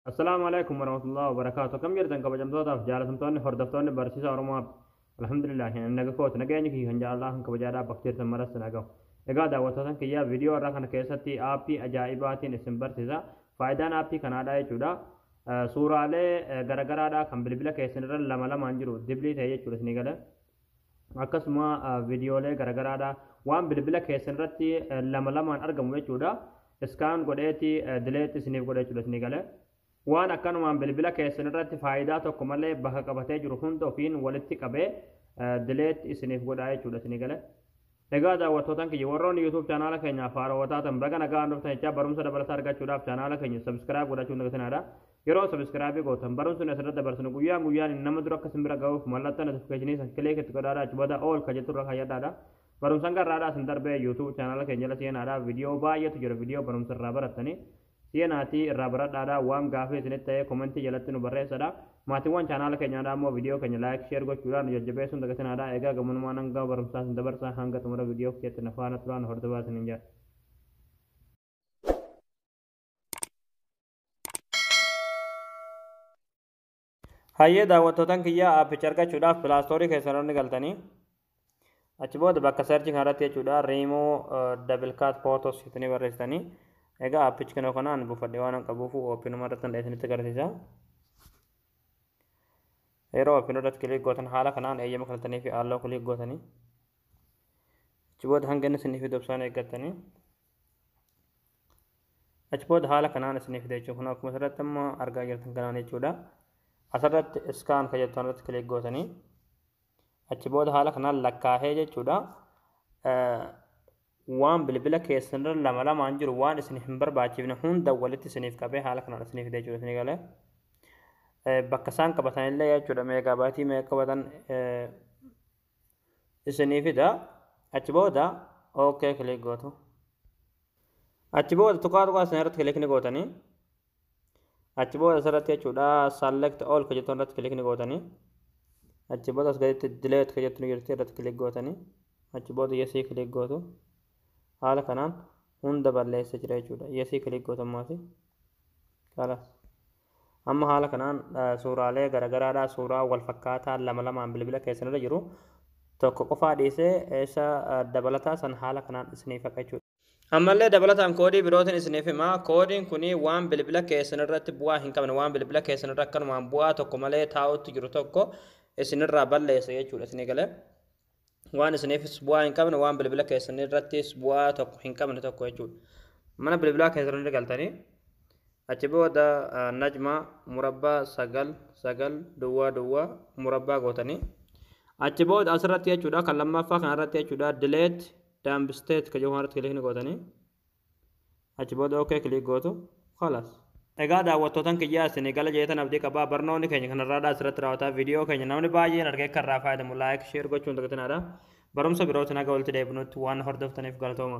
Assalaamu alaikum warahmatullahi wabarakaatu akkam jirtan kabajamtootaaf jaalatamtoonni hordoftoonni barsiisa Oromoo App alhamdulillah hin naga kooti nageenyi kiyya kan jaalalaa kan kabajaadhaa bakka jirtan maras naga egaa daawwattootan kiyyaa viidiyoo irraa kana keessatti aappii ajaa'ibaatiin isin barsiisa faayidaan aappii kanaadhaa jechuudha suuraalee garagaraadhaa kan bilbila keessan irra lama lamaan jiru diblii ta'e jechuudha isinii gala akkasuma viidiyoolee garagaraadha waan bilbila keessan irratti lama lamaan argamu jechuudha iskaan godheeti dileetti isiniif godhe jechuudha isinii galee waan akkanumaan bilbila keessan irratti faayidaa tokko malee bakka qabatee jiru hunda ofiin walitti qabee dileetti isiniif godhaa jechuudha isinii galee Egaa daawwattootan kiyya warroonni YouTube chaanaala keenyaaf haarawa taatan baga nagaan dhuftan jechaa barumsa dabalataa argachuudhaaf chaanaala keenya subscribe godhachuu hin dagatinaadha. Yeroo subscribe gootan barumsi nuti asirratti dabarsinu guyyaan guyyaan nama dura akka isin bira ga'uuf mallattoo notification san click itti godhaadha achi booda all ka jettu irra kaayyadhaadha. Barumsan garraadhaa isin darbee YouTube chaanaala keenya jala seenaadha. Viidiyoo baay'eetu jira viidiyoo barumsa irraa barattanii Seenaati irraa baradhaadha waan gaafii isinitti ta'ee komentii jalatti nu barreessadha. Maatiiwwan chaanaala keenyaadha ammoo viidiyoo keenya laayik sheer gochuudhaan nu jajjabeessuun dagatinaadha. Egaa gamanumaan hanga barumsaa isin dabarsa hanga xumura viidiyoo keetti na faana turaa na hordofaa isiniin jedha. Hayyee daawwattootan kiyyaa aappicha argachuudhaaf pilaastoorii keessan irra ni galtanii achi booda bakka searchii kana irratti jechuudha riimoo double cut photos itini barreessitanii egaa aappichi kanoo kanaan buufadhe waan qabuufu oopinuma irratti hundee isinitti agarsiisa yeroo oopinuu irratti kiliik gootan haala kanaan eeyyama fudhatanii fi aalloo kiliik gootanii achi booda hanga inni isiniif itti fufan eeggattanii achi booda haala kanaan isiniif fida jechuudha. Kun akkuma asirratti amma argaa jirtan kanaan jechuudha. Asirratti iskaan kan jettu irratti kilik gootanii achi booda haala kanaan lakkaa'ee jechuudha. Waan bilbila keessanirra lama lamaan jiru waan isin hin barbaachifne hunda walitti isiniif qabee haala kanaan isiniif fida jechuudha isinii galee. Bakka isaan qabatan illee jechuudha meegaabaatii meeqa qabatan isinii fida achi booda ok click gootu achi booda tuqaa tuqaa isin irratti click ni gootanii achi booda asirratti jechuudha select all ka jettu irratti click ni gootanii achi booda as gaditti delete ka jettu ni jirti irratti click gootanii achi booda yesii click gootu haala kanaan hunda balleessa jira jechuudha yesii click gootu ammaasi kalaas Amma haala kanaan suuraalee garagaraadhaa suuraa wal fakkaataa lama lamaan bilbila keessan irra jiru tokko qofaa dhiisee isa dabalataa san haala kanaan isiniif haqa jechuudha. Ammallee dabalataan koodii birootiin isiniif hima. Koodiin kun waan bilbila keessan irratti bu'aa hin qabne waan bilbila keessan irra akkanumaan bu'aa tokko malee taa'utti jiru tokko isinirraa balleessa jechuudha isinii galee. waan isiniifis bu'aa hin qabne waan bilbila keessanii irrattis bu'aa tokko hin qabne tokko jechuudha. Mana bilbilaa keessan irra galtanii achi booda najma murabbaa sagal sagal duwwaa duwwaa murabbaa gootanii achi booda asirratti jechuudha kan lammaffaa kanarratti jechuudha dileet daambsteet kan jedhu kanarratti kilikni gootanii achi booda ok click gootu khalas Egaa daawwattootan kiyyaa isinii gala jeetan abdii qabaa barnoonni keenya kanarraadhaa asirratti raawwataa viidiyoo keenya namni baay'een argee akka irraa fayyadamu laayik sheer gochuun dagatinaa dha barumsa birootiin haga walitti deebinutti waan hordoftaniif galatooma.